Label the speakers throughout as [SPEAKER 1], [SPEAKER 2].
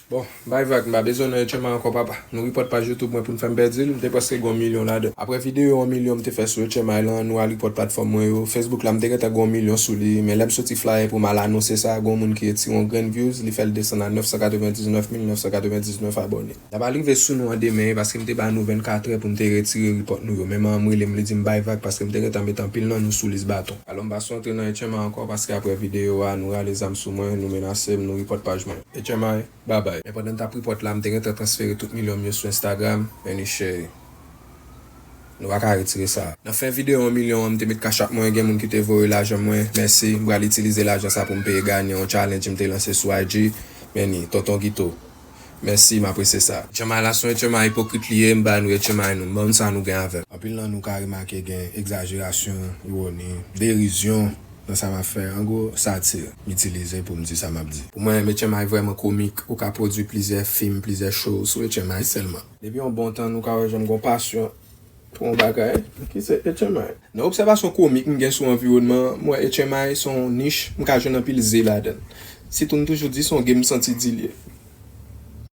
[SPEAKER 1] Bon, bay vag, m pa bezwen nan Etcheman ankò papa. Nou report paj youtube mwen pou n fè m pèdi l, m te prèske gen yon milyon ladan. Aprè videyo 1 milyon m te fè sou Etchemay lan, nou al report platfòm mwen yo, Facebook la m te gentan gen yon milyon sou li, men lè m soti flyer pou m al anonse sa, gen yon moun ki retire yon grenn views, li fè l desann a 999999 abòne. L ap al rive sou nou an demen, e paske m te ba nou 24 trè pou m te retire report nou yo. Menman an m rele m, li di m bay vag paske m te gentan met anpil nan nou sou lis baton. Alò m pa sou antre nan Etcheman ankò paske aprè videyo a, nou rale zam sou mwen, nou menase m, nou report paj mwen. HMI, Bye bye. Men pandan m t ap report la, m te gentan transfere tout milyon m yo sou Instagram, Enushey. Nou pa ka retire sa. Nan fen video 1 milyon an m te met cash app mwen, gen moun ki te voye lajan mwen, mèsi. M pral itilize lajan sa pou m peye ganyan yon challenge m te lanse sou IG, Many, Tonton Guito. Mèsi, m apresye sa. Hmi la son hmi ipokrit li ye, m bay nou hmi nou, m ban nou sa nou gen avè l. Anpil nan nou ka remake gen egzajerasyon, iwoni, derizyon nan sa map fè an gwo satir m itilize poum di sa map di. Pou mwen Hmi vrèman komik ou ka pwodwi plizyè fim plizyè show sou Hmi sèlman. Depi yon bon tan nou ka wè jan m gon pasyon pou yon bagay ki se Hmi. Nan obsèvasyon komik m gen sou anviwònman an m wè Hmi son yon nich m ka jwenn anpil ze ladann. Sitou m toujou di son game m santi di l ye.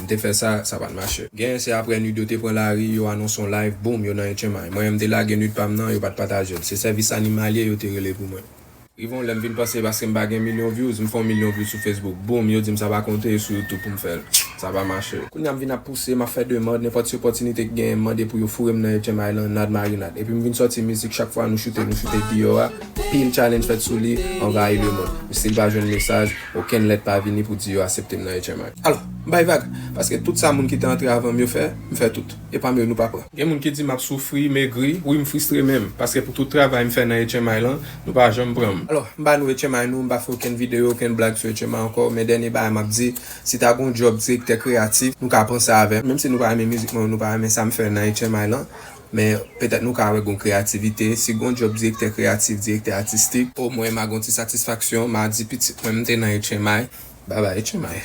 [SPEAKER 1] M te fè sa, sa pat mache. Genyen se aprè nude yo te pran lari, yo anonse yon live, boom, yo nan Etchenmay. Mwen menm m te lage nude pa m nan, yo pat pataje l. Se sèvis animalye yo te rele pou mwen. Rive yon lè m vin panse paske m pa gen milyon vyouz, m fè yon milyon vyouz sou Facebook, boom, yo di m sa pa konte, e sou YouTube pou m fè l. Sa pa mache. Kounye a m vin ap pouse, m ap fè demand, nenpòt ti opòtinite ki genyen m mande pou yo foure m nan Etchenmay lan, nad marinad. Epi m vin sòti mizik chak fwa nou choute, nou choute deyò a, pil challenge fèt sou li, anvayi lemond. M stil pa jwenn mesaj, okenn lèt pa vini pou di yo asepte m nan Etchenmay. Alò, M bay vag, paske tout sa moun ki te antre avan m yo fè, m fè tout. E pami yo nou pa pran. Gen moun ki di m ap soufri, megri, wi m fristre menm, paske pou tout travay m fè nan HMI lan, nou pa janm pran m. Alò, m ba nou HMI nou, m pa fè okenn videyo, okenn blag sou HMI ankò, men dènye bagay m ap di, si ta gen yon djòb direktè kreyatif, nou ka pran sa avè m. Menm si nou pa renmen mizik mwen yo, nou pa renmen sa m fè nan HMI lan, men petèt nou ka wè gen yon kreyativite. Si gen yon djòb direktè kreyatif, direktè atistik, o mwen m a gen yon ti satisfaksyon, m a di pitit mwen m te nan HMI, bye bye HMI.